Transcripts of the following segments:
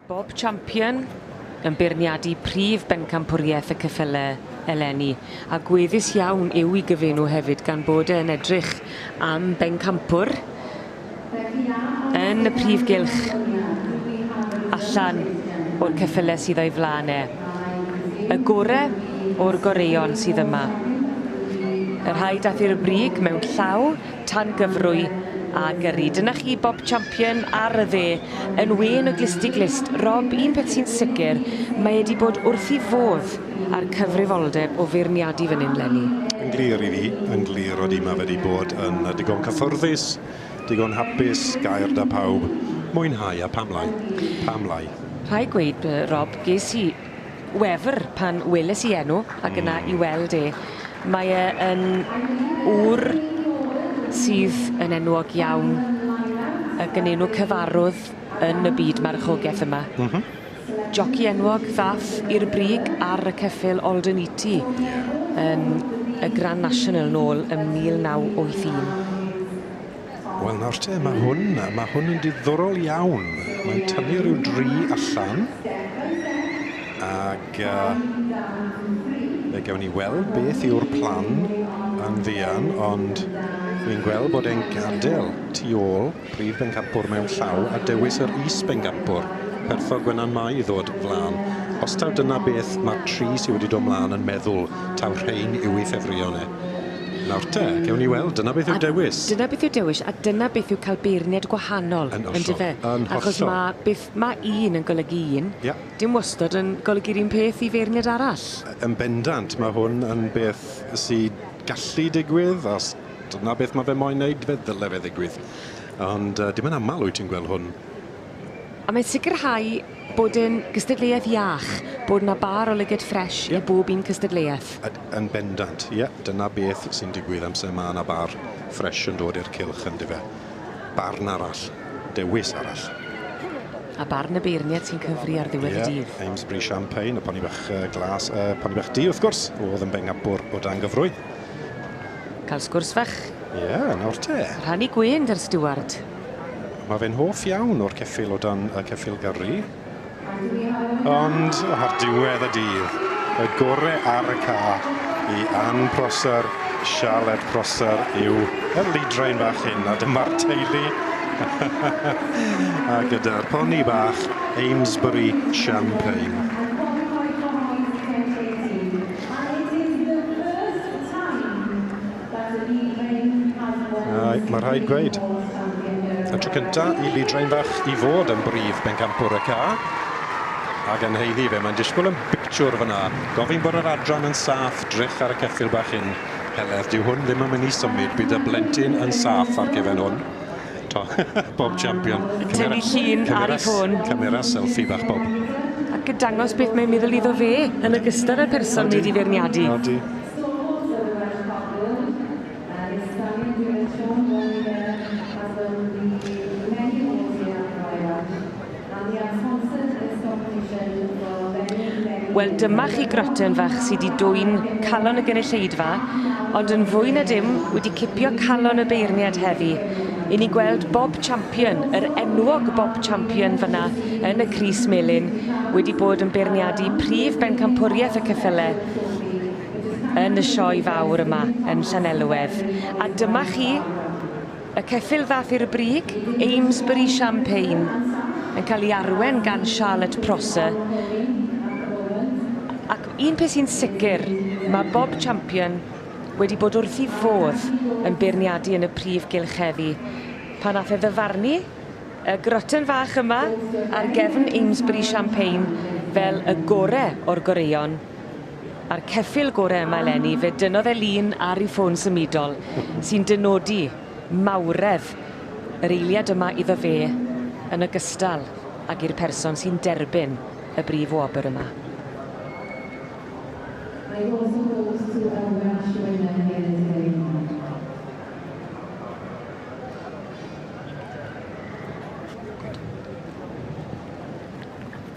Bob Champion yn beirniadu prif bencampwriaeth y ceffylau eleni, a gweddus iawn yw i gyfenw hefyd gan bod e yn edrych am bencampwr yn y prif gylch allan o'r ceffylau sydd o'i flaen e. Y gore o'r goreuon sydd yma. Y rhai dath i'r brig mewn llaw, Tangyfrwy a Gyrru. Dyna chi Bob Champion ar y dde yn wên y glysti glust. Rob, un peth sy'n sicr, mae e 'di bod wrth 'i fodd â'r cyfrifoldeb o feirniadu fan hyn 'leni. Yn glir i fi, yn glir odi, mae fe 'di bod yn ddigon cyffyrddus. Digon hapus, gair da pawb. Mwynhau a pam lai? Pam lai? Rhaid gweud, Rob, ges i wefr pan weles i enw ac yna i weld e. Mae e yn ŵr sydd yn enwog iawn ac yn enw cyfarwdd yn y byd marchogeth yma. Joci enwog ddath i'r brig ar y ceffyl Alden Eaty yn y Grand National nôl ym 1981. Wel nawr te, mae hwn, mae hwn yn diddorol iawn. Mae'n tynnu rhyw dri allan. Ac uh, fe gawn ni weld beth yw'r plan yn fuan, ond fi'n gweld bod e'n gadael tu ôl Prif bencampwr mewn llaw a dewis yr is-bencampwr, perthog Gwenan Mai i ddod flan. Os taw dyna beth ma'r tri sy wedi dod mlan yn meddwl, taw rhein yw'i ffefrïon e. Nawr te, gewn ni weld, dyna beth yw'r dewis. A dyna beth yw'r dewis, a dyna beth yw cael beirniad gwahanol, yndyfe? Yn hollol, yn hollol. Achos ma' beth ma' un yn golygu un, dim wastod yn golygu'r un peth i feirniad arall. Yn bendant, ma' hwn yn beth sy gallu digwydd, os Dyna beth mae fe moyn wneud, fe ddyle fe ddigwydd. Ond dim yn aml wyt ti'n gweld hwn. A mae'n sicrhau bod e'n gystadleuaeth iach, bod 'na bar o lyged ffresh i bob un cystadleuaeth. Yn bendant, ie, dyna beth sy'n digwydd amser mae 'na bar ffresh yn dod i'r cylch yndyfe. Barn arall, dewis arall. A barn y beirniad sy'n cyfri ar ddiwedd y dydd. Ie, Amesbury Champagne, y poni bach glas, y poni bach du wrth gwrs, o'dd yn bengabwr o dan gyfrwy. Cael sgwrs fach. Ie, nawr te. Rhannu gwên gyda'r stiward. Mae fe'n hoff iawn o'r ceffyl o dan y ceffyl gyrru. Ond ar diwedd y dydd, y gore ar y ca i Ann Prosser, Sialed Prosser yw y leidrain fach hyn, a dyma'r teulu a gyda'r poni bach Amesbury Champagne. I did the first time that a bee drain has one Mae mae rhaid gweud, y tro cynta i bee drain fach i fod yn brif bencampwr y ca, a gan haeddu fe, mae'n disgwyl yn bictiwr fanna. Gofyn bod yr adran yn saff, drych ar y ceffyl bach hyn. Heledd, dyw hwn ddim yn mynd i symud, bydd y blentyn yn saff ar gefen hwn. Eto bob champion. Tynnu llun ar ei ffôn. Camera selfie bach bob. Ac yn dangos beth mae'n meddwl iddo fe yn ogystal â'r person wedi feirniadu. Odi. Wel dyma chi groten fach sy 'di dwyn calon y gynulleidfa, ond yn fwy na dim wedi cipio calon y beirniad heddi. I ni gweld Bob Champion, yr enwog Bob Champion fanna yn y crys melyn, wedi bod yn beirniadu prif bencampwriaeth y ceffyle yn y sioe fawr yma yn Llanelwedd. A dyma chi, Y ceffyl ddaeth i'r brig, Amesbury Champagne, yn cael ei arwain gan Charlotte Prosser, ac un peth sy'n sicr, mae bob champion wedi bod wrth ei fodd yn beirniadu yn y prif gylch heddi. Pan ddaeth e ddyfarnu y groton fach yma ar gefn Amesbury Champagne fel y gore o'r goreuon, A'r ceffyl gore yma eleni, fe dynnodd e lun ar ei ffôn symudol, sy'n dynodi mawredd yr eiliad yma iddo fe, yn ogystal ag i'r person sy'n derbyn y brif wobr yma. I also hope to a Welsh winner here today Mark.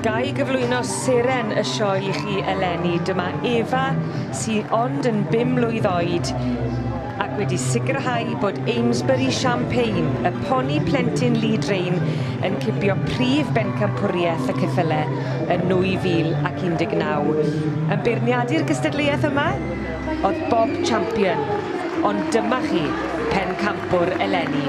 Ga i gyflwyno seren y sioe i chi eleni. Dyma Eva, sy'n ond yn bum mlwydd oed, ac wedi sicrhau bod Amesbury Champagne, y poni plentyn Lee Drain, yn cipio prif bencampwriaeth y ceffyle yn 2019. Yn beirniadu'r gystadleuaeth yma oedd Bob Champion, ond dyma chi pencampwr eleni.